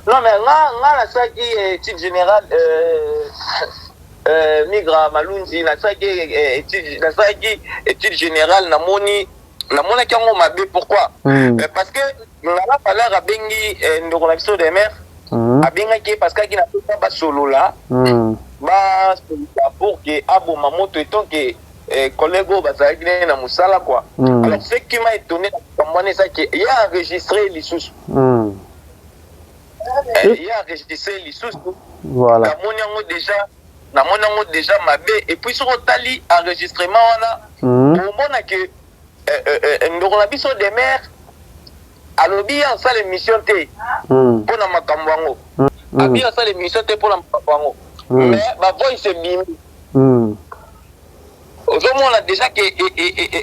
Non mais nga nga na saki etude generale euh, euh, migra malunzi na saki euh, etude na saki etude generale na moni na mona kyango mabe pourquoi mm. euh, parce que ngala palar abengi euh, ndoko na biso de mer mm. abengaki parce que akina pesa basolola mm. basolola pour que aboma moto etant que eh, collègue oyo bazalaki nde na mosala kua mm. alors ce qui m'a étonné na makambo wana eza ke ye enregistre ye lisusu mm. eh, ye enregistre ye lisusu voilà. namoni yango déjà namoni yango déjà mabe et puis soki otali enregistrement wana mm. omona ke eh, eh, eh, ndoko na biso demeure Alobi ye asala emission te pona makambu yango. Abi asala emission te pona makambu yango. Mais ba voice ebimi. Ozo mona dejà que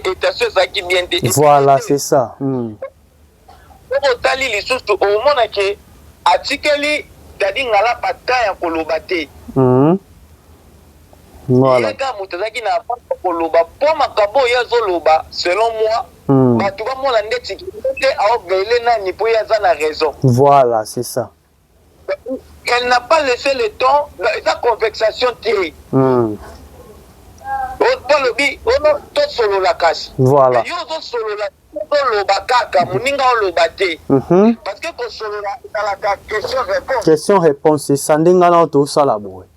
etation ezalaki bien te. Voilà c'est ça. Soki otali lisusu omona que atikeli Daddy Ngalapa temps ya koloba te. Voilà. Ye kaka moto azalaki na avance ya koloba po makambo oyo ye azoloba selon moi bato bamona ndeti ke ye nde ao bailer nani po ye aza na raison. Voilà c'est ça. Elle n'a pas laisse le temps eza convexation te po alobi ono tosolola kasi mais yo ozosolola ozoloba kaka moninga oloba te parce que kosolola ezalaka question reponse. Question reponse c'est ça nde nga nao tosala boye.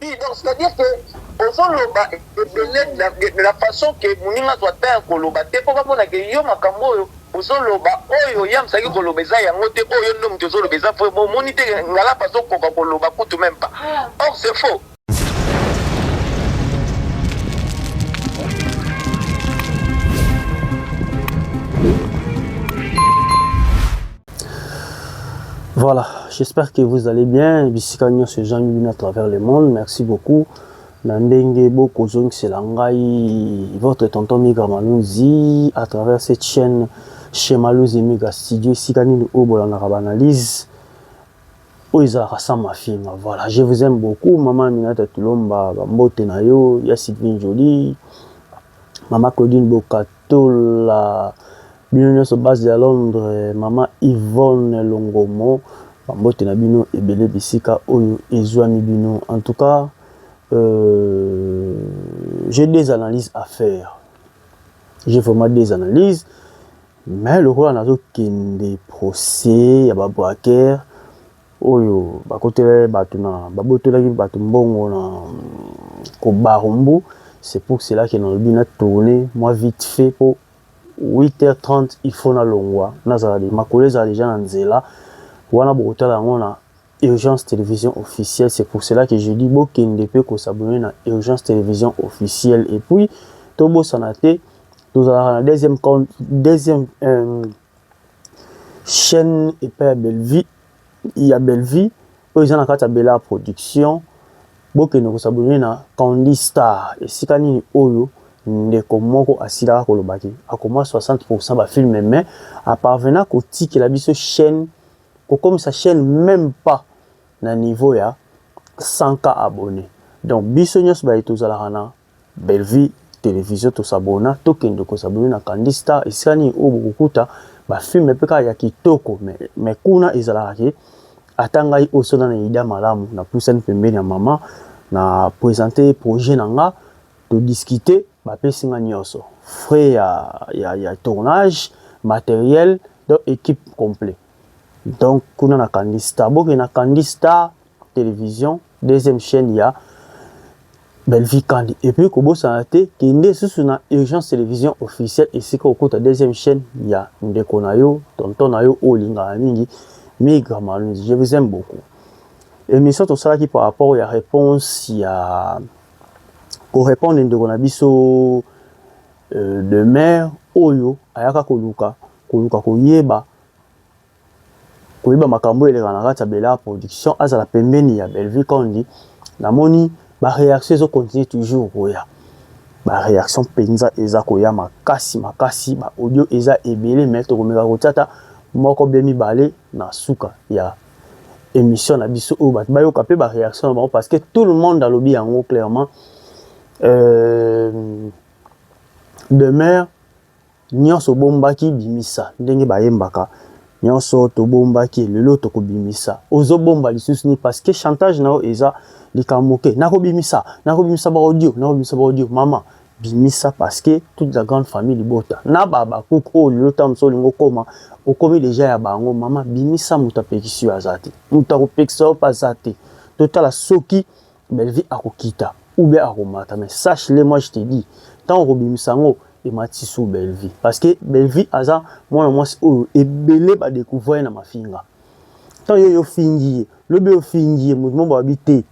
Oui, donc c'est-à-dire que ozoloba ebele na, de la façon que moninga azwa temps ya koloba te mpo bamona ke yo makambo oyo ozoloba oyo ye amsaki koloba eza yango te oyo yo nde moto ozoloba eza vrai bomoni te ngalapa azokoka koloba kutu meme pas or c'est faux Voilà, j'espère que vous allez bien. Bisika nyonso ezangi bino à travers le monde. Merci beaucoup. na ndenge bokozongisela ngai votre tonton miga maluzi à travers cette chaîne chez maluzi miga studio esika nini oyo bolandaka baanalyse oyo ezalaka sans mafinga voilà je vous aime beaucoup mama aminata tulomba bambote na yo ya sylvine jolie mama claudine bokatola Bino nionso base ya Londres maman Yvonne longomo ba mbote na bino ebele bisika oyo ezuami bino en tout cas euh, j'ai des analyses à faire j'ai vraiment des analyses mais lokola nazo kende procès ya ba braqueurs oyo bakotela bato na babotolaki bato mbongo na kobarumbu c'est pour cela que nalobi na tourner moi vite fait po 8h30 il faut nalongwa nazala de makolo ezala deja na nzela wana bokotala yango na Urgence Télévision officielle c'est pour cela que je dis bokende pe ko s'abonner na Urgence Télévision officielle et puis tobosana te tozalaka na deuxième compte deuxième euh, chaîne epai ya Bellevue ya Bellevue oyo eza na kati ya Bella Production. Bokende kosabone na Candy Star. Esika nini oyo ndeko moko asilaka koloba ke akoma 60% ba filme mais aparvena kotikela biso chaîne kokomisa chaîne même pas na niveau ya 100 k abonné donc biso nyonso baye tozalaka na Bellevue television to s'abonna tokende ko s'abonner na Kandy star esika nini oyo bokokuta ba films pe kaka ya kitoko mais mais kuna ezalaka ke ata ngai oyo soki nanu eyida malamu na pusani pembeni ya maman na presenter ye projet na nga to discuter ba pesi nga nionso frais ya ya ya tournage materiel donc equipe complet donc kuna na Kandy star bokende na Kandy star. television deuxième chaîne ya Bellevue Kandi et puis kobosana te kende susu na urgence télévision officielle esika okota deuxième chaîne ya ndeko na yo tonton na yo oyo olingaka mingi Migra Malunzi je vous aime beaucoup émission tosalaki par rapport ya réponse ya korépondre ndeko na biso euh, de mère oyo ayaka koluka koluka koyeba koyeba makambo oyo elekaka na kati ya Bel'art production azala pembeni ya Bellevue Kandy namoni ba reaction ezo continuer toujours koya ba reaction mpenza eza koya makasi makasi ba audio eza ebele mais tokomeka kotia ata moko bien mibale na suka ya emission na biso oyo bato bayoka mpe ba reaction na bango parce que tout le monde alobi yango clairement euh, demeure Nionso obombaki bimisa ndenge bayembaka nionso tobombaki lelo toko bimisa ozo bomba lisusu nini parce que chantage na yo eza likambo ke nako bimisa nako bimisa ba audio nako bimisa ba audio mama bimisa parce que toute la grande famille libota na ba ba cook oyo lelo ta mosusu olingo koma okomi deja ya bango mama bimisa moto apekisi yo azate moto akopekisa yo pe azate totala soki Bellevue ako kita ou bien ako mata mais sache le moi je te dis tant ko bimisa ngo et mati sous Bellevue parce que Bellevue aza moi na moi oyo et belé ba découvrir na mafinga tant yo yo fingi le be yo fingi mutu mo ba bité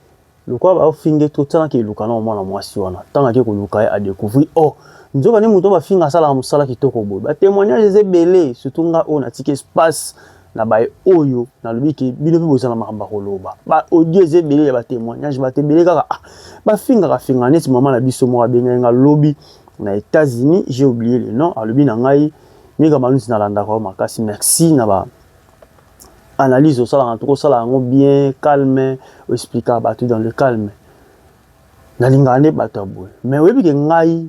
le quoi ba fingi tout tant que le canon moi na moi si wana tant que ko luka a découvrir oh nzo ba ne mutu ba finga sala musala kitoko boy ba témoignage zé belé surtout nga on a tique espace na baye oyo nalobi ke bino mpe bozala makambo ya koloba ba audio eza ebele ya batemoignage bato ebele kaka ah, bafingaka finga neti mama na biso moko abengaki nga lobi na états-unis j'ai oublié le nom alobi na ngai mika maluti nalandaka yo makasi merci na ba analyse osalaka toki osala yango bien calme oexplikaka bato dans le calme nalingaka nde bato ya boye mais oyebi ke ngai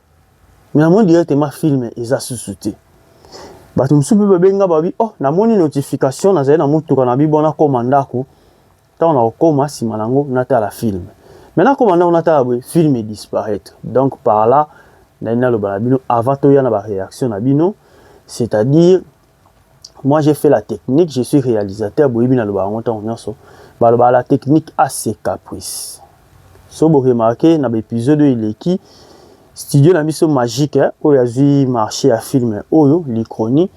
Mais namoni directement film eza susu te. Bato mosusu mpe babengi nga babi oh, namoni notification nazali na motuka na bibo nakoma ndako ntango nakokoma nsima na yango natala film me nakoma ndako natala boye film edisparaitre donc par là nali naloba na bino avant toya na baréaction na bino c'est-à-dire moi j'ai fait la technique je suis réalisateur boyebi naloba yango ntango nyonso balobaka la technique a ses caprice so boremarke na baepisode oyo eleki studio na biso magique eh, oyo azwi marché ya filme oyo likroni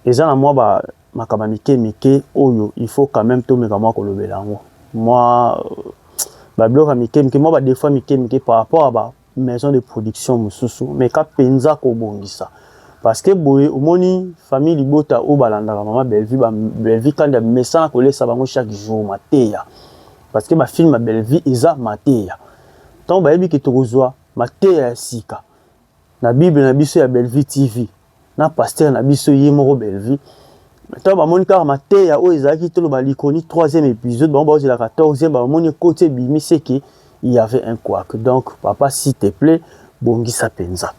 eza na mwa ba makambo ya mike mike oyo il faut quand même tomeka mwa kolobela yango mwa euh, babiloko ya mike mike mwa badefa mike mike par rapport ya ba maison de production mosusu meka mpenza kobongisa parceke boye omoni famille libota oyo balandaka mama bellevue bellevue kandi amesana kolesa bango chaque jour mateya parceke bafilme ya bellevue eza mateya ntango bayebi ke tokozwa mateya ya sika na bible na biso ya bellevue tv na pasteur na biso ye moko Bellevue ntango bamoni kaka mateya oyo ezalaki toloba likoni 3e épisode bango baozela 14e bamoni ekoti ebimi seke il y avait un quoique donc papa s'il te plaît bongisa mpenza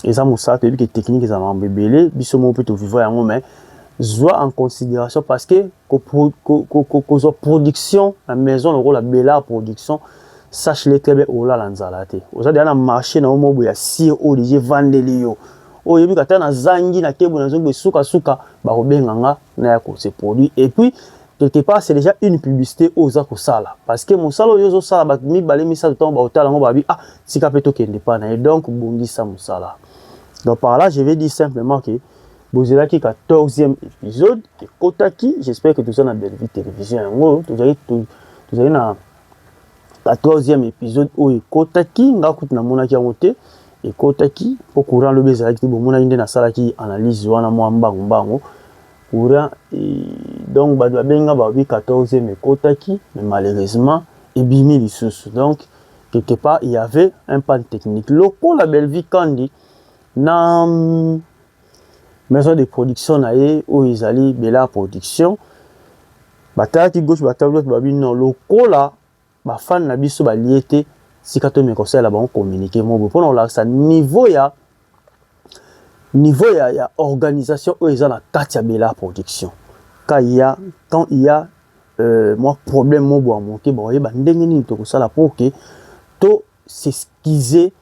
eza mosala toyebi ke technique eza mambo ebele biso moko mpe tovivra yango mais zwa en considération parce que kozwa production na maison lokola belard production sache le très bien olala nzala te oza deja na marché na yo mobo ya sire oyo deja evandeli yo oyo oyebi kata nazangi na kebo nazongi boye sukasuka bakobenga nga na ya kose produit et puis quelque part c'est déjà une publicité oyo oza kosala parce que mosala oyo ozosala bato mibale misato ntango baotala yango babi ah tika mpe tokende mpa na ye donc bongisa mosala donc par là je vais dire simplement que bozelaki 14e episode ekotaki j'espère que toza na bellevue télévision yango tozali tozali na 14e épisode oyo ekotaki nga kutu namonaki yango te ekotaki mpo courant lobi ezalaki te bomonaki nde nasalaki analyse wana mwa mbangu mbangu courant e, donc bato babenga babi 14e ekotaki mais malheureusement ebimi lisusu donc quelque part il y avait un panne technique lokola bellevue kandi na Maison de production na ye oyo ezali Bel'art production batalaki gauche ba talaki droite ba lobi non lokola ba fans na biso balie te tika tomeka kosalela bango communique moko boye mpona kolakisa niveau ya niveau ya, ya organisation oyo eza na kati ya Bel'art production ka ya quand il ya euh, mwa problème moko boye ya moke bakoyeba ndenge nini tokosala mpo ke to s'excuser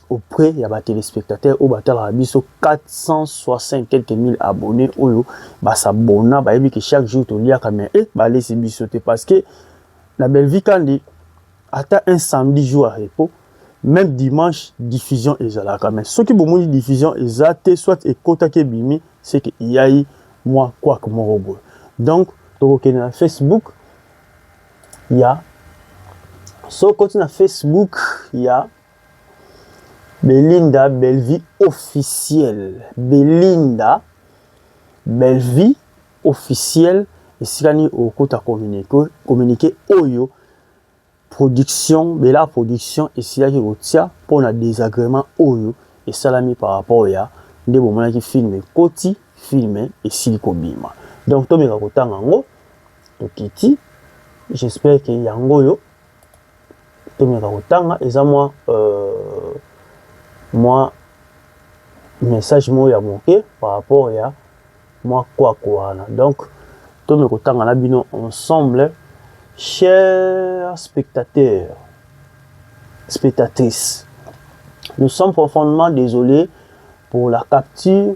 auprès ya ba telespectateurs oyo batalaka biso 460 quelques mille abonnés oyo ba s'abonna bayebi que chaque jour toliaka mais eh balesi biso te parce que na Bellevue Kandi ata un samedi jour à repos même dimanche diffusion ezalaka mais soki bomoni diffusion eza te soit ekotaki ebimi c'est que iyai mwa kwak moko boye donc tokokende na Facebook ya soki okoti na Facebook ya Belinda Bellevue officiel Belinda Bellevue officiel esika nini okota communique communique oyo production Bella production esilaki kotia mpo na desagrément oyo esalami par rapport ya nde bomonaki film ekoti film esili kobima donc tomeka kotanga yango tokiti j'espère que yango oyo tomeka kotanga eza mwa euh, mwa message moko ya moke par rapport ya mwa kwako wana donc tomeka kotanga na bino ensemble chers spectateurs spectatrices nous sommes profondément désolés pour la capture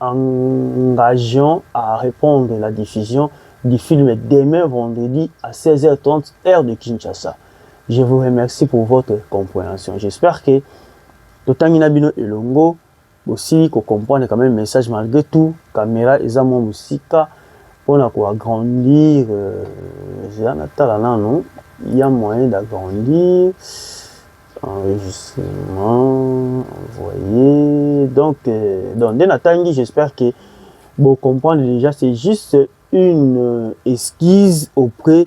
Engageons à repondre la diffusion du film demain vendredi à 16h30 heure de Kinshasa. Je vous remercie pour votre comprehension. J'espère que totangi na bino elongo bosili ko comprendre quand même message malgré tout camera eza mwa mosika mpona ko agrandir euh, eza na tala nano il y a moyen d'agrandir enregistrement envoyer donc euh, donc nde natangi j'espère que bo comprendre déjà c'est juste une euh, esquisse auprès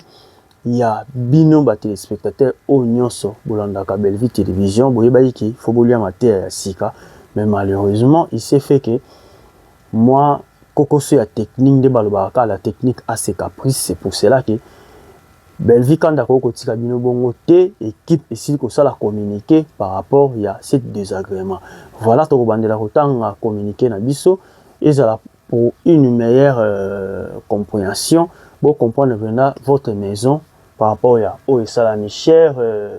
ya bino ba téléspectateurs oyo nyonso bolandaka Bellevue télévision boyebaki ke faut bolia mateya ya sika mais malheureusement il s'est fait que moi kokoso ya technique nde balobaka kaka la technique a ses caprices c'est pour cela que Bellevue kanda akoki kotika bino bongo te equipe esili kosala communique par rapport ya cette désagrément voilà tokobandela kotanga communique na biso ezala pour une meilleure euh, compréhension bo comprendre pena votre maison par rapport ya oyo esalami cher euh,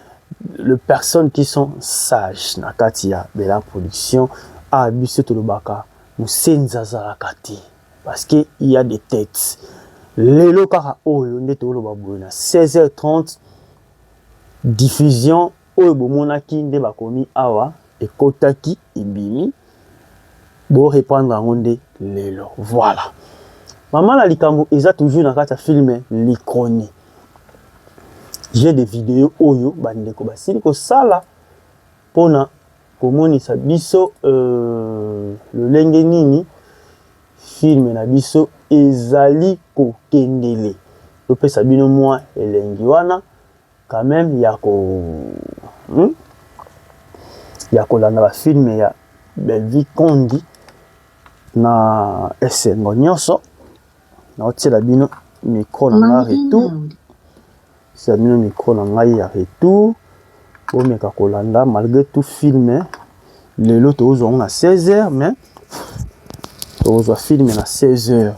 le personnes qui sont sages na kati ya Bella Production a ah, biso tolobaka musenzi azalaka te parce que il y a des têtes lelo kaka oyo nde toloba boye na 16h30 diffusion oyo bomonaki nde bakomi awa Ekotaki ebimi bo reprendre yango nde lelo voilà maman na likambo eza toujours na kati ya film l'icronie j'ai des videos oyo bandeko basili kosala pona komonisa biso euh, lolenge nini film na biso ezali kokendele topesa bino mwa elengi wana Quand meme ya ko hum ya kolanda ba film ya Bellevue Kondi na esengo nionso naotiela bino micro na nga retour tiela bino micro na ngai ya retour bomeka kolanda malgré tout film lelo tozwa yango na 16 heures mais tozwa film na 16 heures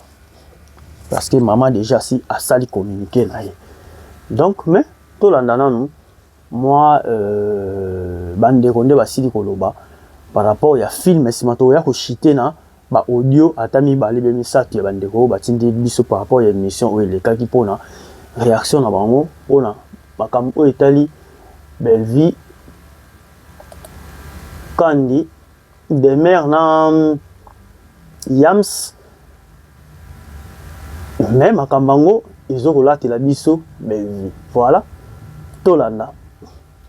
parce que maman déjà si asali communiquer na ye donc mais tolanda nanu mwa euh, bandeko nde basili koloba par rapport ya film nsima tokoya koshite na ba audio ata mibale be misato ya bandeko oyo batindi biso par rapport ya émission oyo elekaki mpona réaction na bango mpona makambo oyo etali Bellevue Kandi Demeure na Yams mais makambo yango ezo kolatela biso Bellevue. Voilà, tolanda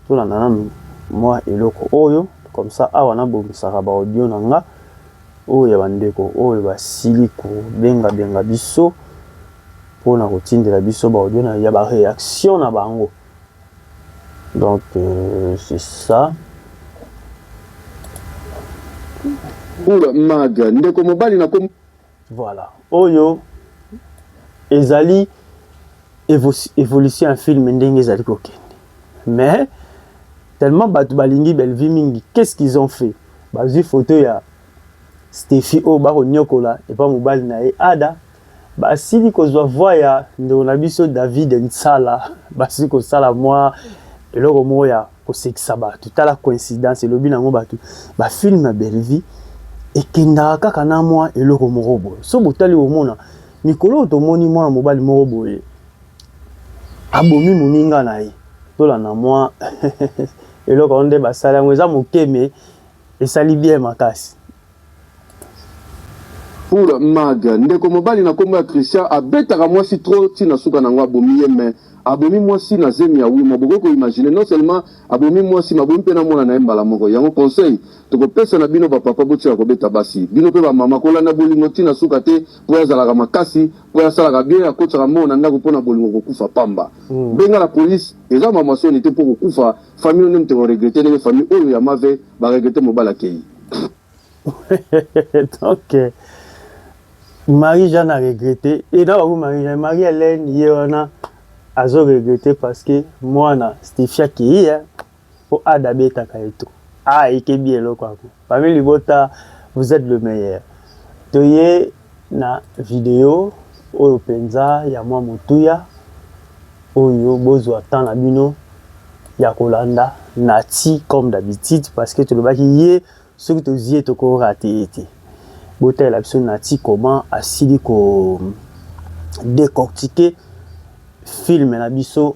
tolanda nanu mwa eloko oyo comme ça awa nabongisaka ba audio na nga oyo ya bandeko oyo basili kobenga benga biso mpo na kotindela biso ba audio na ya ba reaction na bango. Donc euh, c'est ça. Oula mag ndeko mobali na kom Voilà. Oyo ezali evo- evolution ya film ndenge ezali kokende. Mais tellement bato balingi Bellevue mingi, qu'est-ce qu'ils ont fait? Bazwi photo ya Steffi oyo bakonyokola epa mobali na ye Ada, Basili kozua voix ya ndeko na biso David Nsala basili kosala mwa eloko moko ya kosekisa batu tala coincidence elobi nango batu ba film ya Bellevue ekendaka kaka na mwa eloko moko boye soki botali bomona mikolo oyo tomoni mwana mobali moko boye abomi moninga na ye tolanda mwa eloko yango nde basali yango eza moke me esali bien makasi. Pour Mag, ndeko mobali na kombo ya Christian abetaka mwasi trop ti na suka na yango abomi ye mais abomi mwasi na zemi ya Wimo bokoki ko imaginer non seulement abomi mwasi mais abomi pe na mwana na ye mbala moko yango conseil toko pesa na bino ba papa botika kobeta basi bino pe ba mama kolanda bolingo ti na suka te po ya zalaka makasi po ya salaka bien akotisaka mbongo na ndaku pona bolingo kokufa pamba benga la police eza mamwa soni te po kokufa Famille no nde moto eko regrette ndenge famille oyo ya mave ba regrette mobali akeyi. Donc Marie Jeanne a regrette et na bango Marie Jeanne Marie Hélène ye wana azo regrette parce que mwana Stephie akeyi hein po ada abetaka ye to ah ekebi eloko yango famille libota vous êtes le meilleur toye Na video oyo penza ya mwa motuya oyo bozua temps na bino ya kolanda Naty comme d'habitude parce que tolobaki ye soki tozui ye toko rate ye te. Botalela biso Naty comment asili ko decoctiquer film na biso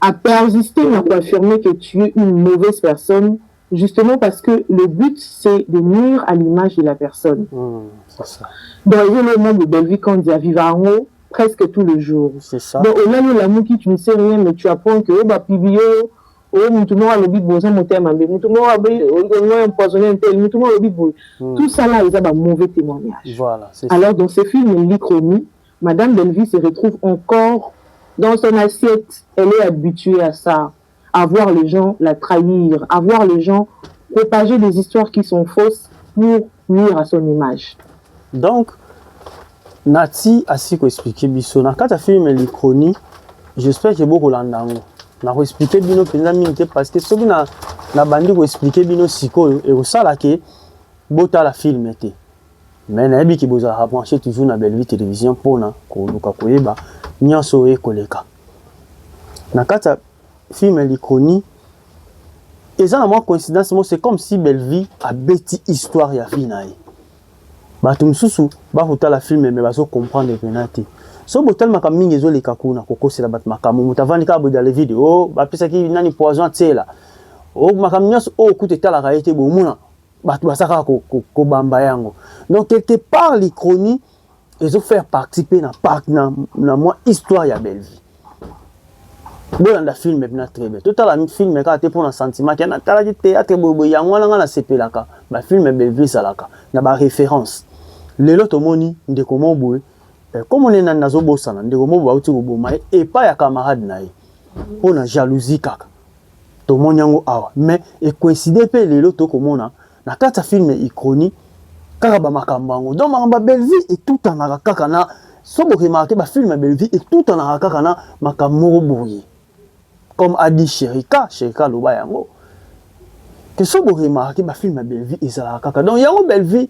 A persister na ko affirmer que tu es une mauvaise personne justement parce que le but c'est de nuire à l'image de la personne. Donc ezo loo mambu Bellevue Kandy a viva yango presque tout le jour. Donc olali olamuki tu ne sais rien mais tu apprends que oyo ba publie yo oyo mutu moko alobi boye oza motema mabe mutu moko alobi olingo empoisonne ntel mutu moko alobi boye tout ça là eza ba mauvais témoignage. Voilà, c'est ça. Alors dans ce film Lichromie Madame Bellevue se retrouve encore dans son assiette, elle est habituee à ça, à voir les gens la trahir, à voir les gens propager des histoires qui sont fausses pour nuire à son image. Donc, Nati asi ko expliquer biso na kati ya film Likroni, j'espère que boko landa yango. Na ko expliquer bino mpenza mingi te parce que soki na na bandi ko expliquer bino sikoyo ekosala ke botala film te. Mais nayebi ke bozalaka branche toujours na Bellevue Television pona koluka koyeba nionso oyo ekoleka na kati ya film ya Likoni. Eza na mwa coïncidence moko, c'est comme si Bellevue abeti histoire ya vie na ye. Bato mosusu bakotala film mais bazo comprendre pena te. So botali makambo mingi ezoleka kuna kokosela bato makambo, moto avandi kaka boye dans le vide, oh bapesaki nani poison atiela, oh makambo nyonso oyo kutu etalaka ye te bomona bato baza kaka kobamba yango donc quelque part l'Ichronie ezo faire partie mpe na parc na, na mwa histoire ya Bellevue bolanda filme bina très bien totala filme kaka te mpo na sentiment ke natalaki théâtre boyeboye yango wana ngai nasepelaka bafilme Bellevue ezalaka na baréférence lelo tomoni ndeko moko boye eh, komo ne nani nazobosana ndeko moko boye auti koboma ye epai ya camarade na ye mpo na jalousie kaka Tomoni yango awa mais e coincide mpe lelo tokomona na kati ya film Uchronie kaka ba makambo yango. Donc makambo ya Bellevue etutanaka kaka na so bo remarquer ba film ya Bellevue etutanaka kaka na makambo moko boye. Comme a dit Cherika, Cherika aloba yango. Que so bo remarquer ba film ya Bellevue ezalaka kaka. Donc yango Bellevue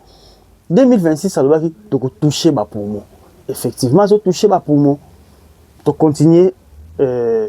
2026 alobaki toko toucher ba poumons. Effectivement, azo toucher ba poumons. To continuer euh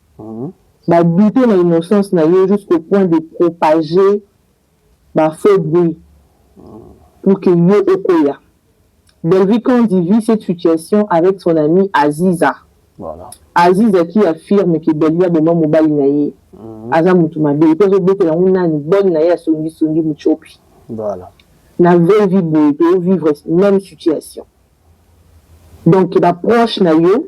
Ba douter na innocence na yo jusqu'au point de propager ba faux bruits pour que yo okoya. Bellevue Kandy vit cette situation avec son amie Aziza. Aziza qui affirme que Bellevue aboma mobali na ye, aza mutu mabe et puis azo betela yango nani? Bonne na ye ya songi songi mutshopi. Na vraie vie boye to vivre meme situation. Donc ba proches na yo.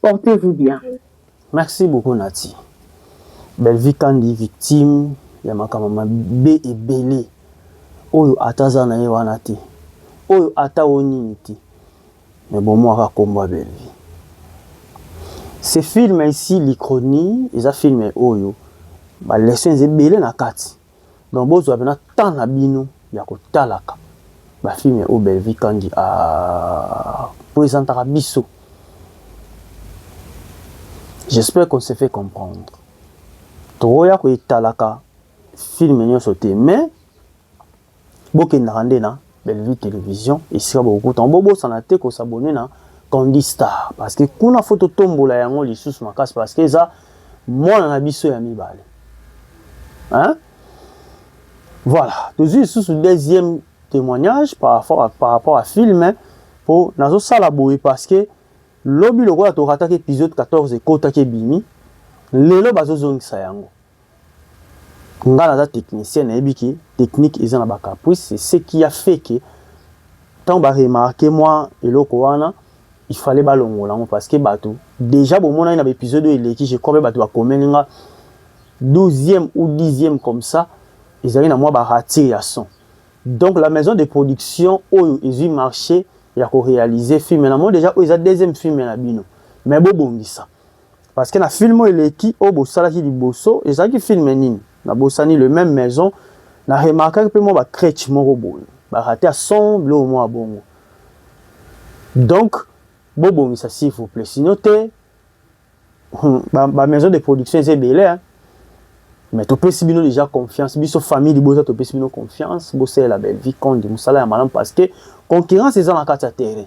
Portez vous bien. Merci beaucoup Naty. Bellevue Kandy victime ya makambo mabe ebele oyo ata aza na ye wana te oyo ata o nini te me bomwaka nkombo ya Bellevue. Ce film ici l'Ichronie eza film oyo ba lessons ebele na kati. Donc bozwa pena temps na bino ya kotalaka ba film oyo Bellevue Kandy a presentaka biso. J'espère qu'on se fait comprendre. Tokoya kotalaka film nionso te mais bokendaka nde na Bellevue Television esika bokokutana bobosana te kosabone na Candy Star parce que kuna fo totombola yango lisusu makasi parce que eza mwana na biso ya mibale hein? voilà tozwi lisusu deuxième témoignage par rapport à, par rapport à film mpo nazosala boye parce que lobi lokola torataki épisode 14 ekotaki ebimi lelo bazozongisa yango Nga naza technicien nayebi ke technique eza na ba caprice c'est ce qui a fait ke tango ba remarquer mua eloko wana il fallait ba longola yango parce que batu dejà bo monaki na ba episode oyo eleki je crois pe batu ba komeli nga douzième ou dixième comme ça ezalaki na mua ba rature ya son donc la maison de production oyo ezui marche ya ko realiser film na moni dejà oyo eza deuxième film na bino mais bo bongisa Parce que na film oyo eleki oyo bosalaki liboso ezalaki film nini nabosani le même maison na remarkaki mpe mwa bacrèche moko boye barate ya son biloko mwa bongo donc bobongisa s'il vous plaît sino te hmm, bamaison de production eza ebele mais topesi bino déjà confiance biso famille liboso topesi bino confiance bosalela bellevie conde mosala ya malamu parce que concurrence eza na kati ya terrain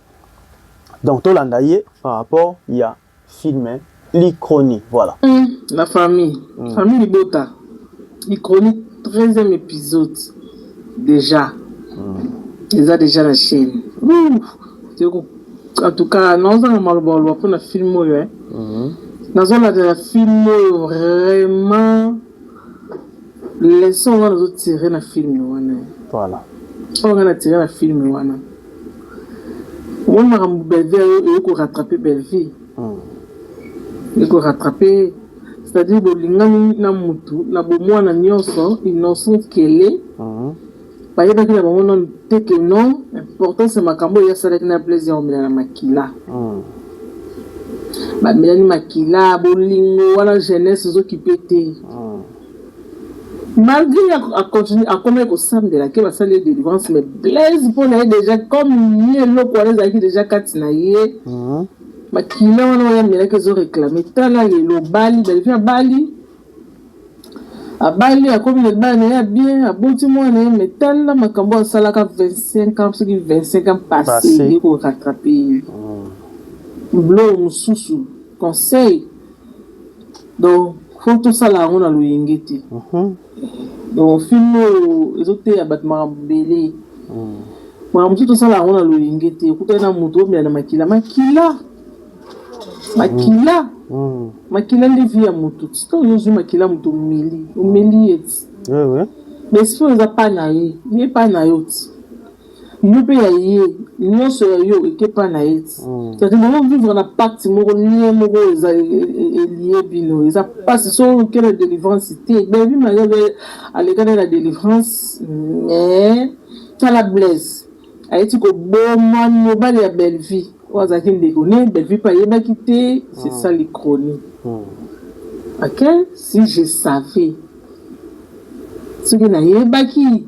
donc tolanda ye par rapport ya film l'icronie voilà mm, la famille mm. famille libota l'icronie 13e épisode déjà mm. eza déjà na chaîne en tout cas nazozanga maloba oloba mpona film oyo eh. mm-hmm. nazolandela film oyo vraiment leson wana nazotire na film wana eh. voilà oyo nga natire na film wana Yo makambo Bellevue ayo eye ko rattraper Bellevue. Eye ko rattraper c'est-à-dire bolingani na mutu na bomwana nionso innocente qu'elle est. Bayebaki na bango nanu te que non importance ya makambo eye asalaki na Blaise ya komelana makila. Bamelani makila, bolingo wana jeunesse ezo kipe te. Malgre ye a continue akomaki kosambela ke basali ye delivrance mais Blaise mpo na ye dejà comme ye eloko wana ezalaki dejà kati na ye makila wana oyo amelaki ezo reclame tala lelo obali Bellevue abali abali akomi na libala na ye ya bien aboti mwana na ye mais tala makambo oyo asalaka 25 ans soki 25 ans passe eye ko rattrape ye biloko mosusu conseil Donc faut tosala yango na loyenge te donc film oyo ezoteya bato makambo ebele makambo mosusu tosala yango na loyenge te okutani na moto omela na makila makila makila makila nde vie ya moto sika ozozwi makila moto omeli omeli ye ti mais soki eza pa na ye ye pa na yo ti yo pe ya ye nionso ya yo eke epa na ye ti c'est à dire bozo vivre na pacte moko nie moko eza elie bino eza pasi soki oluke na delivrance te bellevue marie pe aleka nde na delivrance mais tala blaise aye ti koboma mobali ya bellevue oyo azalaki ndeko ne bellevue pe ayebaki te c'est ça l'icronie ok si je savais soki nayebaki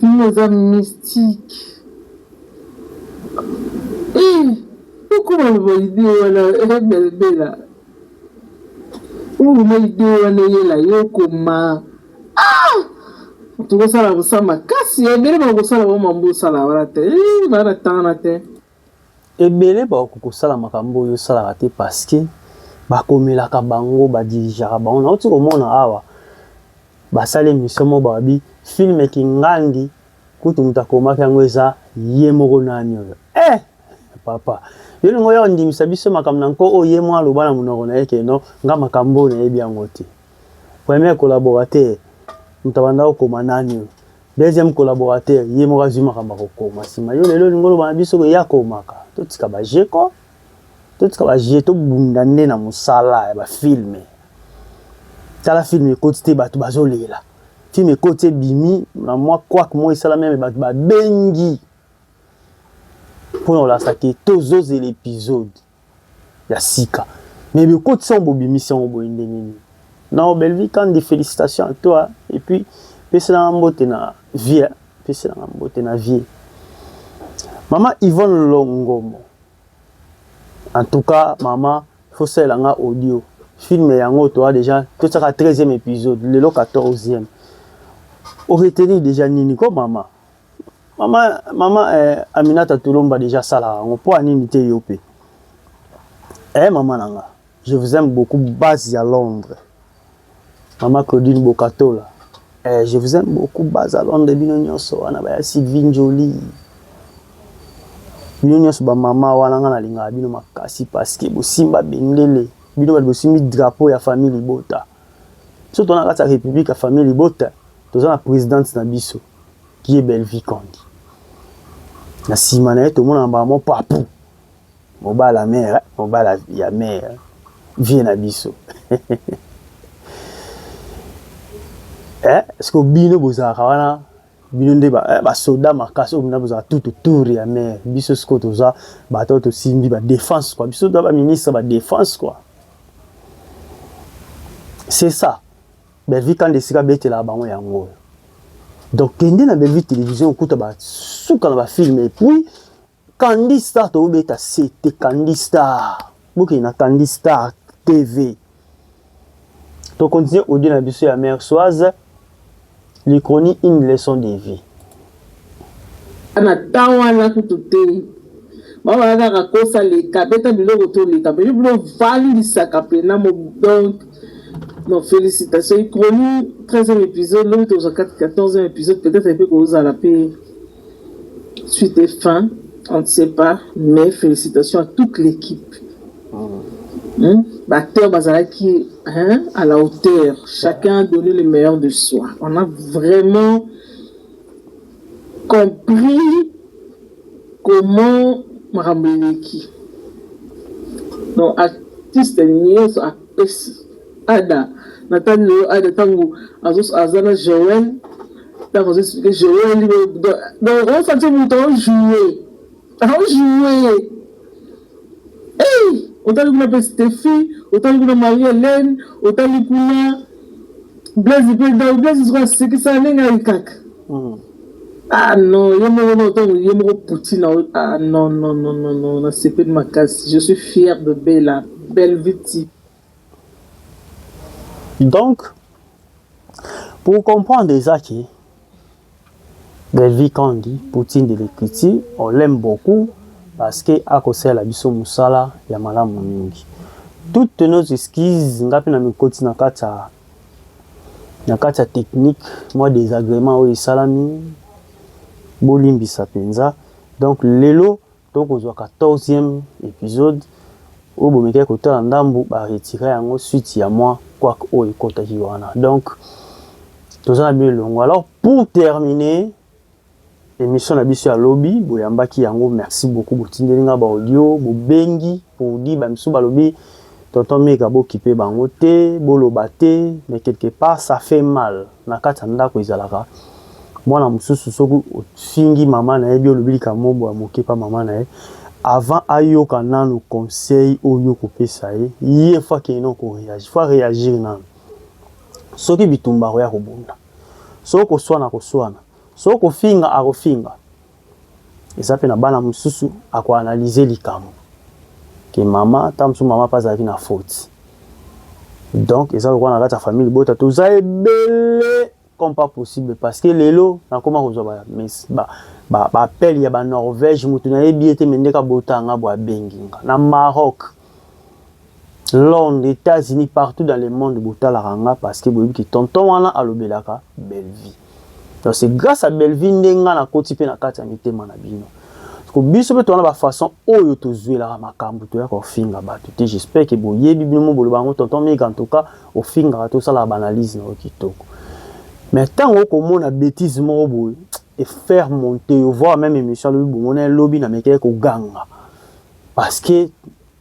Fille eza mystique eeh okoma loba idee wana eh belbela okoma idee wana eyela yo okoma ah tokosala bosa makasi ebele bakosala bango mambo osala wana te eh bana tangana te Ebele bakoki kosala makambo oyo yo osalaka te parce que bakomelaka bango, ba dirigeaka bango. Nauti komona awa basali emission moko balobi film Kingangi kutu moto akomaki yango eza ye moko nani oyo. Eh! Papa, yo olingi oya ondimisa biso makambo na nko oyo ye mwa aloba na monoko na ye ke non, nga makambo oyo nayebi yango te. Premier collaborateur moto abanda kokoma nani oyo? Deuxième collaborateur, ye moko azwi makambo ya kokoma nsima. Yo lelo olingi oloba na biso ke ye akomaka? Totika ba jeux ko, totika ba jeux, tobunda nde na mosala ya bafilme. Tala filme ekoti te bato bazolela, filme ekoti ebimi na mwa kwak moko esalami ame bato babengi mpo na kolakisa ke tozozela episode. ya sika mais bokotisi yango bobimisi yango boye ndenge nini nao Bellevue Kandy felicitations à toi et puis pesela nga mbote na vie pesela nga mbote na vie mama Yvonne Longomo en tout cas mama faut salela nga audio film yango toa déjà totiaka 13e épisode lelo 14e oreteni déjà nini ko mama Mama, mama eh, Aminata Tulomba deja asalaka yango mpo anini te yo mpe eh, mama na nga je vous aime beaucoup base ya Londres mama Claudine Bokatola eh, je vous aime beaucoup base ya Londres bino nyonso wana baya Sylvie Njoli bino nyonso bamama wana nga nalingaka bino makasi parceke bosimba bendele bino bali bosimbi drapeau ya famille libota soki tona kati ya république ya famille libota toza na présidente na biso qui est Bellevue Kandy na nsima na ye tomona mbala mo papu mobala mère mobala ya mère vie na biso eh, siko bino bozalaka wana bino nde basoda eh, ba makasi oyo bina bozalaka tout autour ya mère biso siko toza bato tosimbi badefense kua biso toza baministre badefense kua c'est ça Bellevue kanda esika abetelaka bango yango oyo donc kende na Bellevue télévision okuta basuka na bafilme epuis Candy Star tobeta sete Candy Star bokende na Candy Star TV tokontinue audio na biso ya mère soise licronie une leçon de vie Na temps wana kutu te bango baza kaka kosa leka beta biloko to leka mais yo bino ofandisaka pena mo donc non felicitations icroni 13e episode lobi tokozwa 14e episode peut-être pe kozala pe suite et fin on ne sait pas mais felicitations à toute l'équipe hmm? Bacteur Bazalaki hein, à la hauteur. Chacun a donné le meilleur de soi. On a vraiment compris comment makambo eleki donc artiste nioso apesi ada na tali lelo ada ntango aza na joel ntango azo explike joel donc osanti moto aojoue Azo joue eih otali kuna pe Stephi otali kuna Marie Helène otali kuna Blaise pe donc Blaise sikoyo asekisa nde ngai kaka ah non ye moko na otango ye moko Poutine na ah non non non non non nasepeli makasi je suis fière de Bella Belviti Donc, pour comprendre Ezaki, Belvi Kangi, Poutine de l'écriture, on l'aime beaucoup parce que akosala biso musala ya malamu mingi. Toutes nos excuses, ngapi na mikoti na kati ya na kati ya technique, mwa désagrément oyo esalami, bolimbisa mpenza. Donc lelo To kozua 14 ème episode oyo bomekaki kotala ndambu ba retira yango suite ya mwa couac oyo ekotaki wana donc toza na bino elongo alors pour terminer emission na biso ya lobi boyambaki yango merci beaucoup botindeli nga ba audio bobengi pour dire ba misu balobi tonton mega bokipe bango te boloba te mais quelque part ça fait mal Na kati ya ndako ezalaka mwana mosusu soki ofingi mama na ye bi olobi likambo moko boye ya moke epai ya mama na ye, avant ayoka nanu conseil oyo yo okopesa ye, ye il faut akende nanu ko reagir, il faut a reagir nanu. Soki bitumba akoya kobunda, soki koswana akoswana, soki kofinga akofinga eza pe na bana mususu ako analyse likambo ke mama tango mosusu mama pe azalaki na faute donc eza lokola na kati ya famille libota toza ebele comme pas possible parce que lelo nakoma kozwa ba mes ba ba appel ya ba Norvège mutu nayebi ye te mais ndeka bota nga bo abengi nga na Maroc Londres, Etats Unis partout dans le monde botalaka nga parce que boyebi ki tonton wana alobelaka Bellevue. Donc c'est grâce à Bellevue nde nga na koti pe na kati ya mitema na bino. Ko biso pe tona ba façon oyo tozuelaka makambu toya ko finga batu te. J'espère que boyebi bino mo boloba ngo tonton Mike en tout cas ofingaka to sala ba analyse na yo kitoko. Mais tango okomona bêtise moko boye et faire monter yo voir même émission lobi bomona lobi na mekele ko ganga. Parce que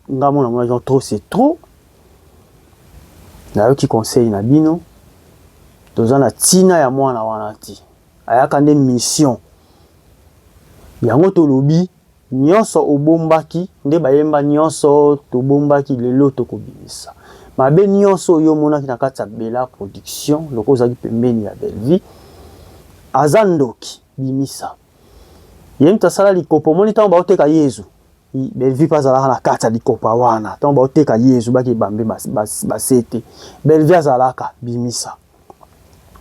nga mona mona genre trop c'est trop. Nayoki conseil na bino. Toza na tina ya mwana wana te. Ayaka nde mission. Yango tolobi nyonso obombaki nde bayemba nyonso tobombaki lelo tokobimisa. Mabe nyonso yo monaki na kati ya Bella production loko ozaki pembeni ya Bellevue. Aza ndoki bimisa. ye mutu asala likopa omoni ntango baoteka yezu belvi mpe azalaka na kati ya likopa wana ntango baoteka yezu bake bambe basete belvi azalaka bimisa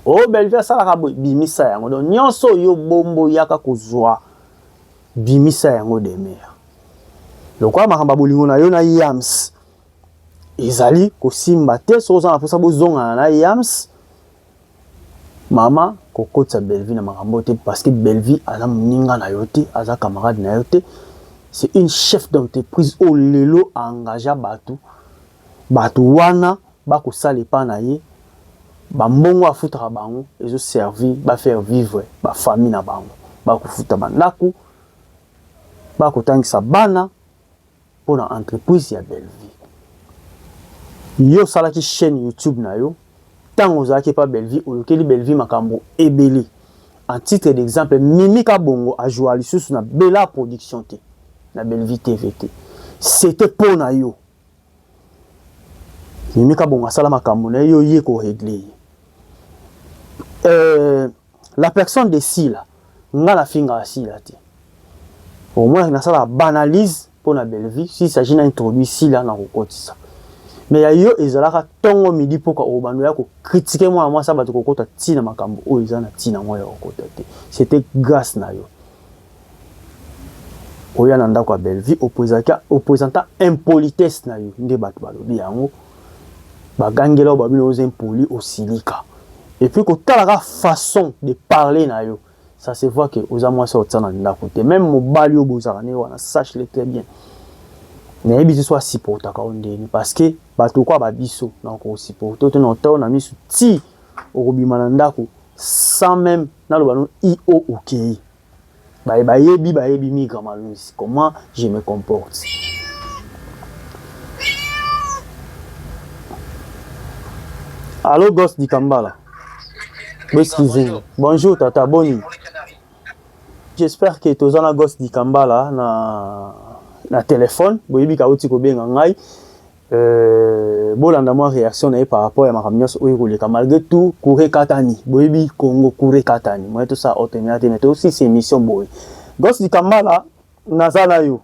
o oh, belvi asalaka boye bimisa yango don nyonso oyo bombo yaka kozwa bimisa yango demeure lokola makambo ya bolingo na yo na yams ezali kosimba te soki oza na mposa bozongana na yams Maman ko kotisa Bellevue na makambo oyo te parce que Bellevue aza muninga na yo te, aza camarade na yo te. C'est une chef d'entreprise oyo lelo a engagea batu, batu wana ba ko sala epa na ye ba mbongo afutaka bango ezo servir ba faire vivre ba famille na bango, ba ko futa ba ndaku, ba ko tangisa bana, mpo na entreprise ya Bellevue. Yo osalaki chaîne YouTube na yo ntango ozalaki epa Bellevue, olukeli Bellevue makambo ebele. En titre d'exemple, Mimi Kabongo a joua lisusu na Bella Production te, na Bellevue TV te. C'était mpo na yo. Mimi Kabongo asala makambo na ye, yo oye ko régler ye. Euh, La personne de Sila, nga na fingaka Sila te. Au moins nasala banalise mpo na Bellevue, s'il s'agit na introduit Sila na kokotisa. Mais ya yo ezalaka tongo midi poka obando ya ko critiquer mwana mwasi ya bato kokota tina makambo oyo eza na tina mwa ya kokota te. C'était grâce na yo. oya na ndako ya Bellevue opresenta impolitesse na yo nde bato balobi yango bagangela oyo babino oza impoli osilika epuis kotalaka façon de parler na yo ça se voit que oza mwasi otia na ndako te meme mobali oyo bozalaka na ye wana sache le très bien nayebi te so asupportaka yo ndeni parce que bato okoa babiso na okosupporte te na otao na miso ti okobima na ndako sans meme naloba no io okei okay. Baye bayebi bayebi Migra Maluzi comment je me comporte. Allo Ghost Dikambala. Excusez. Bonjour tata boni. J'espère que toza na Ghost Dikambala na na téléphone boyebi kauti kobenga ngai Euh, bolanda mwa reaction na ye par rapport ya makambo nyonso oyo ekoleka malgré tout courant ekatani boyebi congo courant ekatani moye tosala otemela te mais tosisi émission boye gos likambala naza na yo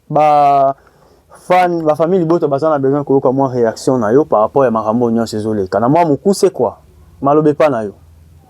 ba fan ba famille libota baza na besoin koyoka mwa reaction na yo par rapport ya makambo oyo nyonso ezoleka na mwa mokuse kwa maloba epa na yo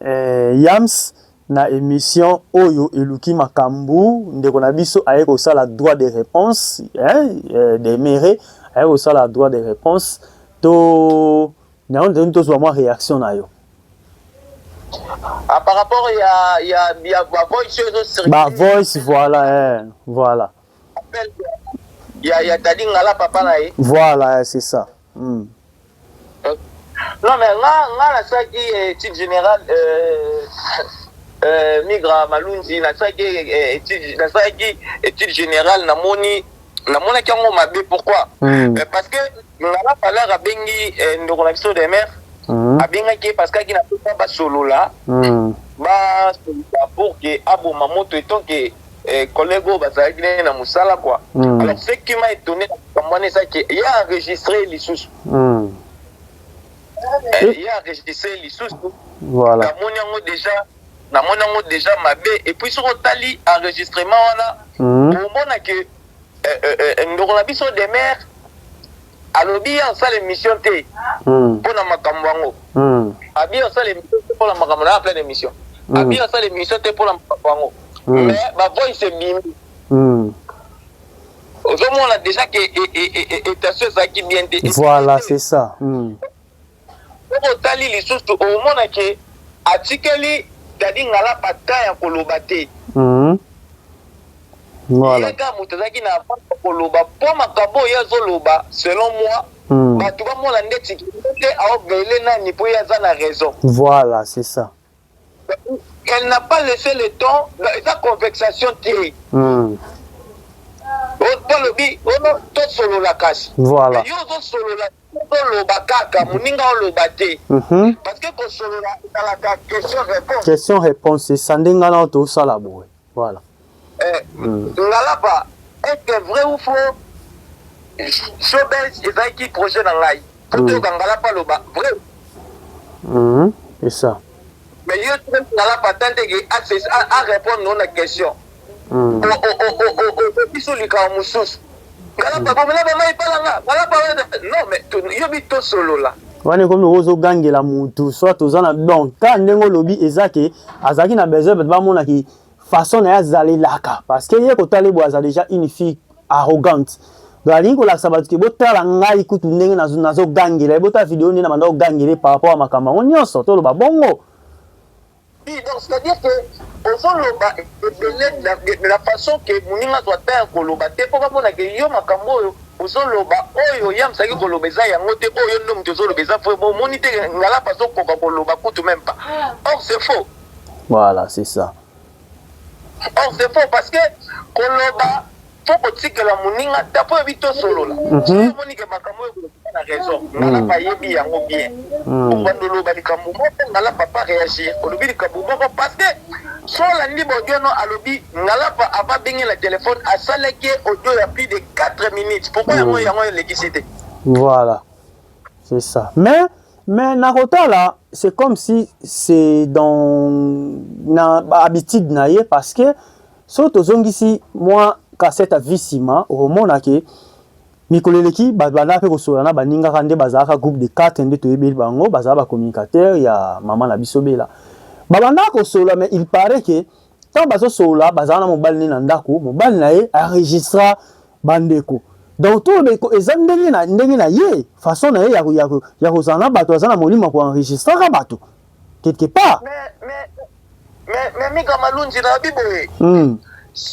Eeh yams na emission oyo eluki makambu ndeko na biso aye kosala droit de reponse hein demeure aye kosala droit de reponse to yango tozali tozua mua reaction na yo. Ah par rapport ya ya ya ba voice oyo ezo circuler. Ba voice voilà eh voilà. Appel ya ya Daddy Ngala papa na ye. Voilà eh c'est ça. Hum. Non mais nga nga na saki eh, type général euh, euh, migra malunzi na saki eh, type na saki eh, type général na moni na mona ki ngo mabe pourquoi mm. eh, parce que nga na parler a bengi eh, ndoko na biso de mère mm. a benga ki parce que ki na pas ba solola mm. ba pour que aboma moto etant que eh, collègue oyo bazalaki nde na mosala kua mm. alors ce qui m'a étonné makambo wana eza ke ye enregistre ye lisusu mm. eh, ye enregistre ye lisusu voilà. namoni yango déjà namoni yango déjà mabe et puis soki otali enregistrement wana mm. omona ke eh, eh, eh, ndoko na biso demeure Alobi ye asala emission te mpo na makambo yango. Abi asala emission te mpo na makambo na pleine emission. Abi asala emission te mpo na makambo yango. Mais ba voice ebimi. Ozomona dejà que etation ezalaki bien te. Voilà c'est ça. Soki otali lisusu omona ke atikeli Daddy Ngalapa temps ya koloba te. Ye kaka mutu azalaki na avance ya koloba po makambo oyo ye azoloba selon moi batu bamona ndeti ke ye nde aobele nani po ye aza na raison. Voila c'est ça. elle n'a pas laisse le temps eza convexation te hmm. olobi ono tosolola kasi voilà. yo ozosolola oloba kaka moninga oloba te mhm. parce que kosolola ezalaka question réponse question réponse esande ngai nao tosala boye Voilà. Eh, mm. Ngalapa, est-ce que vrai ou faux showbiz ezalaki projet na ngai po mm. toyoka ngalapa loba vrai mm-hmm. c'est ça mais yo ngalapa ata ndenge arépondre no na question mm. okoki so likambo mosusu Kala pa bomela ba mai pala nga. Wala pa wala. Non mais to yobi to solola. Wana ekomi ozo gangela mutu soit toza na donc ka ndenge olobi eza ke azalaki na besoin bato bamona ki façon na ye azalelaka parce que ye kotale boye aza déjà une fille arrogante donc alingi kolakisa bato ke botala ngai kutu ndenge nazogangela ye botala video nde na banda kogangele par rapport ya makambo yango nyonso toloba bongo Oui, donc c'est-à-dire que ozoloba ebele de la façon que moninga azwa temps ya koloba te mpo bamona ke yo makambo oyo ozoloba oyo ye amesaki koloba eza yango te oyo nde moto ozoloba eza vrai bo omoni te ngalapa azokoka koloba kutu meme pas or c'est faux voilà c'est ça or c'est faux parce que koloba faut kotikela moninga ata mpo oyebi tosolola soki omoni ke makambo oyo ekoza na raison ngalapa ayebi yango bien obanda oloba likambo moko ngalapa pa réagir olobi likambo moko parce que so olandi baudio no alobi ngalapa ava abenge na telefone asalaki audio ya plus de 4 minutes pourkoi yango yango elekisi te voilà c'est ça mais mais nakotala c'est comme si c'est dans na habitude na ye parce que So tozongisi mwa kasete ya vie nsima, okomona ke mikolo eleki babanda mpe kosola na baningaka nde bazalaka groupe de 4 nde toyebeli bango bazala ba communicateur ya mama na biso bela babanda kosola mais il paraît que ntango bazosolola bazala na mobali ne na ndako mobali na ye aregistra bandeko donc toloba eza ndenge na, ndenge na ye façon na ye ya kozala na bato aza na molimo ya koenregistraka bato quelque part mais mais mais mais mika malunzi na bibo mm.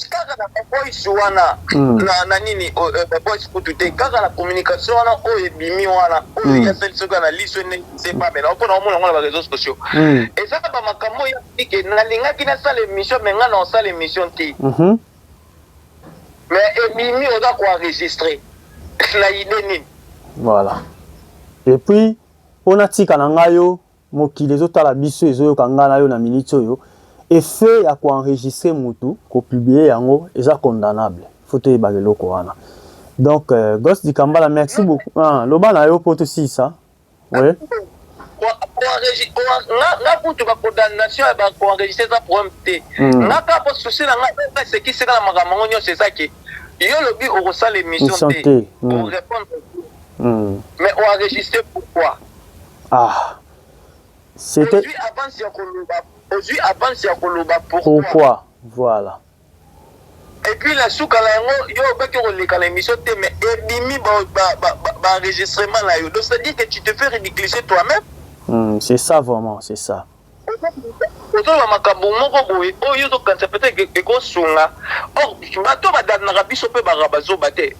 kaka na boys wana mm. na, na nini oh, eh, eh, boys kutu te kaka na communication wana oyo ebimi wana oyo mm. yasali soki na liso ene sepamela mpona omona yango na bareseau sociaux mm. eza ba makambo oyo yatike nalingaki nasala émission me ngai na osala émission te mm -hmm. mais ebimi oza koenregistre na ide nini voilà et puis po natika na nga yo mokili ezo tala biso ezo yoka nga na yo na minutes oyo effet ya ko enregistrer mutu ko publier yango eza condamnable faut toyebaka eloko wana donc euh, Ghost Dikambala merci beaucoup ah, loba na yo po tosilisa oui nga kutu bacoordination ya bacoenregistre eza problème te hmm. nga kaka po souci na nga esekisika na makambo yango nyonso eza ke yo olobi okosala émission te orépondre hmm. Mais o enregistrer pourquoi? Ah. C'était. Ozui avance ya koloba. Ozui avance ya koloba pourquoi? Pourquoi? Voilà. Et puis la suka la yango yo obaki koleka na émission te mais ebimi ba ba ba, ba, ba enregistrement na yo. Donc c'est à dire que tu te fais ridiculiser toi-même. Mm, c'est ça vraiment, c'est ça. Ozoloba makambo moko boye oyo yo ozokanisa peut-etre que ekosunga or bato oyo badangnaka biso mpe bazalaka bazoba te.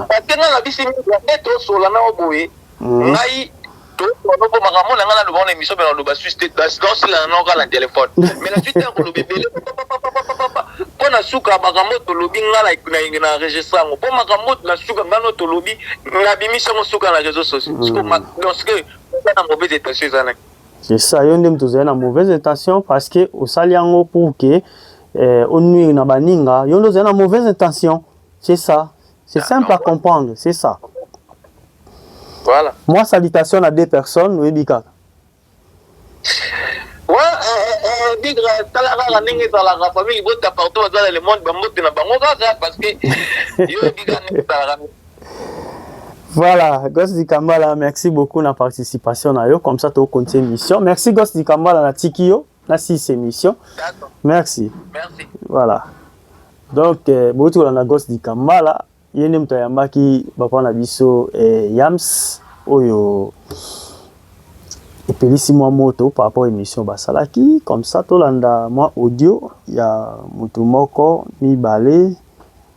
Batengaka biso mingi ya nde tosolola na yo boye ngai tosolola na yo mpo makambo oyo na ngai naloba yango na emission mpe naloba susu te naosilana na yo kaka na telefone mais nazwi ntango koloba ebele papapapapapapa mpo na suka makambo oyo tolobi ngai na enregistre yango mpo makambo oyo na suka ngai na oyo tolobi nabimisi yango suka na réseau sociaux siko donc ce que Eza na mauvaise intention eza na. C'est ça, yo nde moto ozali na mauvaise intention parce que osali yango pour que eh, onuire na baninga, yo nde ozali na mauvaise intention. C'est ça. C'est simple à comprendre, c'est ça. Voilà. Moi, salutation à deux personnes, oui, Bika. Ouais, euh, Bika, talaka la ningue dans la famille, il botte partout dans le monde, bambote na bango kaka parce que yo Bika ne talaka. Voilà, Ghost Dikambala, merci beaucoup na participation na yo. Comme ça, tu continues l'émission. Merci Ghost Dikambala na tiki yo na six émission. Merci. Merci. Voilà. Donc, euh, bouti ko na Ghost Dikambala, yende mtu ayambaki bapa na biso eh, Yams oyo epelisi mwa moto par rapport émission basalaki comme ça tolanda mwa audio ya moto moko mibale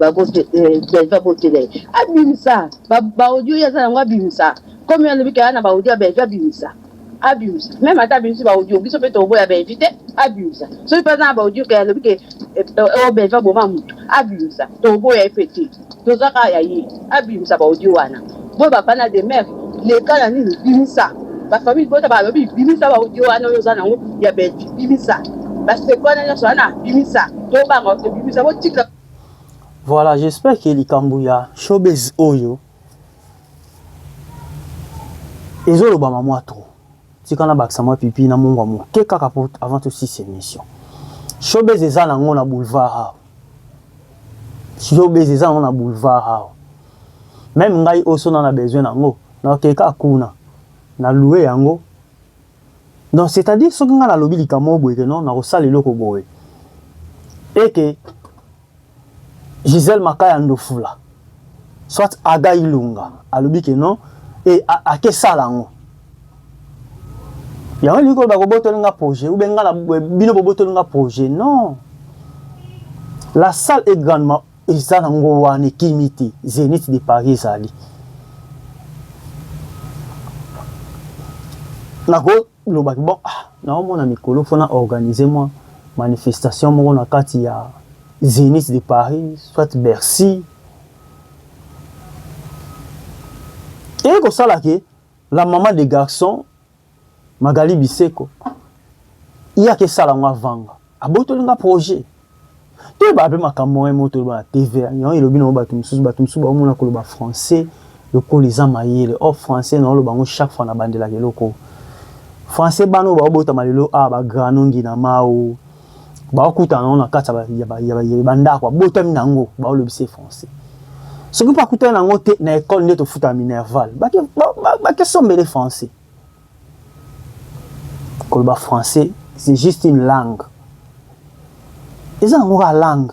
Belva botele ye abimisa ba audio ye aza nango abimisa comme ye alobi ke aya na ba audio ya Belva abimisa abimisa meme ata abimisi ba audio biso mpe tokoboya Belvi te abimisa soki mpe aza na ba audio ke alobi ke eh, eh, oyo Belva boma motu abimisa tokoboya ye mpe te toza kaka ya ye abimisa ba audio wana boye bafana de mer leka na nini bimisa bafamille bota balobi bimisa ba audio wana oyo oza nango ya Belvi bimisa basekwana nyonso wana bimisa tobanga obimisa botika Voilà, j'espère que likambo ya showbiz oyo ezolobama mwa trop. Tika nabakisa mwa pipi na mungwa moke kaka po avant tosilisa emission. Showbiz eza nango na boulevard awa. Showbiz eza nango na boulevard awa. Meme ngai oyo so nana besoin nango, nakokende kaka kuna, na loue yango Donc c'est à dire soki nga na lobi likambo moko boye que non na kosala eloko boye et que Gisèle Makaya Ndofula soit Aga Ilunga alobi que non et ake sala ngo yango elingi koloba kobotoli nga projet ou bien nga na bino bobotoli nga projet non la salle est grandement Eza na ngo wana ekimi te. Zenith de Paris ezali. Nako loba ki bon ah nao mona mikolo faut na organiser moi manifestation moko na kati ya Zenith de Paris soit Bercy. Et ko sala ke la maman des garçons Magali Biseko ye akesala ngo avanga abotoli nga projet toyeba mpe makambo moye moko toloba na tv yango elobi nango bato mosusu bato mosusu baomona koloba français lokola eza mayele or français naoloba yango chaque fois nabandelaka eloko français bana oyo baobotama lelo awa ah, bagranongi na mao bakutana nango na kati ya bandako abotami na yango baolobisa français soki mpe akutani na yango te na ekole nde tofutaka minerval bakesombele français koloba français c'est juste une langue eza yango kaka langue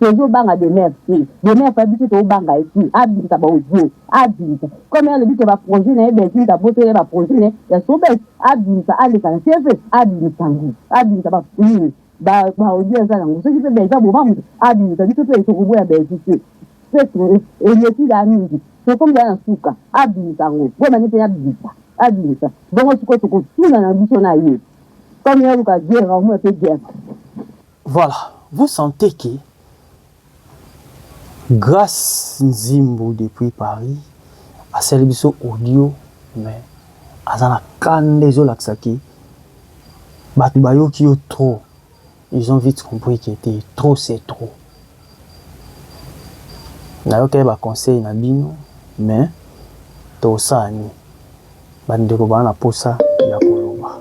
Tozo banga demeure te, demeure pe biso to banga ye te, abimisa ba audio, abimisa comme ye alobi ke ba projet na ye Belvinte abotoli ye ba projet na ye ya sobes, abimisa aleka na TV abimisa yango, abimisa ba nini ba audio aza na yango, soki pe Bellevue aboma mutu abimisa, biso pe toko boya Bellevue te, pe eleki dejà mingi tokomi dejà na suka, abimisa yango bo mani pe abimisa, abimisa bongo sikoyo toko tuna na biso na ye comme ye aluka guerre aomona pe guerre. Voilà vous sentez que grace nzimbu depuis Paris asali biso audio mais aza na kanda ezolakisa ke bato bayoki yo trop ils ont vite compris que te trop c'est trop nayokaki baconseil na bino mais tosala nini bandeko baa na mposa ya koloba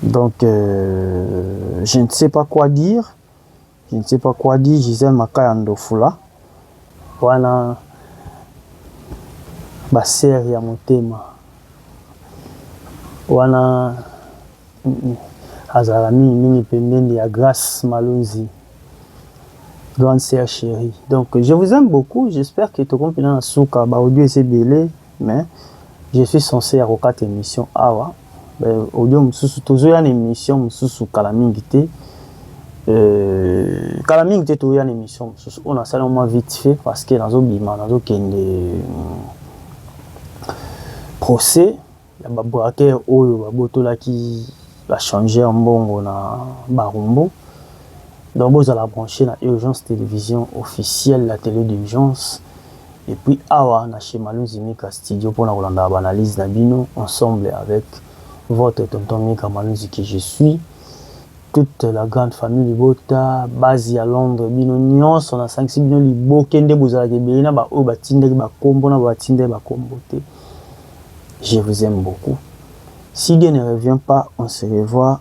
Donc euh, je ne sais pas quoi dire. Je ne sais pas quoi dire. Gisèle Makaya Ndofula. Wana ba sœur ya motema. Wana azala mingi mingi pembeni ya Grace Malunzi. Grande sœur chérie. Donc je vous aime beaucoup. J'espère que tokompina na suka ba audio ese belé. Mais je suis sense ya kokata emission awa audio mususu tozo ya na emission mususu kala mingi te euh, kala mingi te toya na emission mususu oyo nasali mwa vite fait parce que nazo bima nazo kende hmm, procès ya ba braquer oyo babotolaki ba changer mbongo na barumbu donc bozala branche na urgence télévision officielle la télé d'urgence Et puis awa na chez Malunzi Mika studio pona kolandaka ba analyses na bino ensemble avec votre tonton Mika Malunzi que je suis toute la grande famille libota base ya Londres bino nionso na sangisi bino liboke nde bozalaka ebele na ba oyo batindaki ba kombo na ba batindaki ba kombo te je vous aime beaucoup si Dieu ne revient pas on se revoit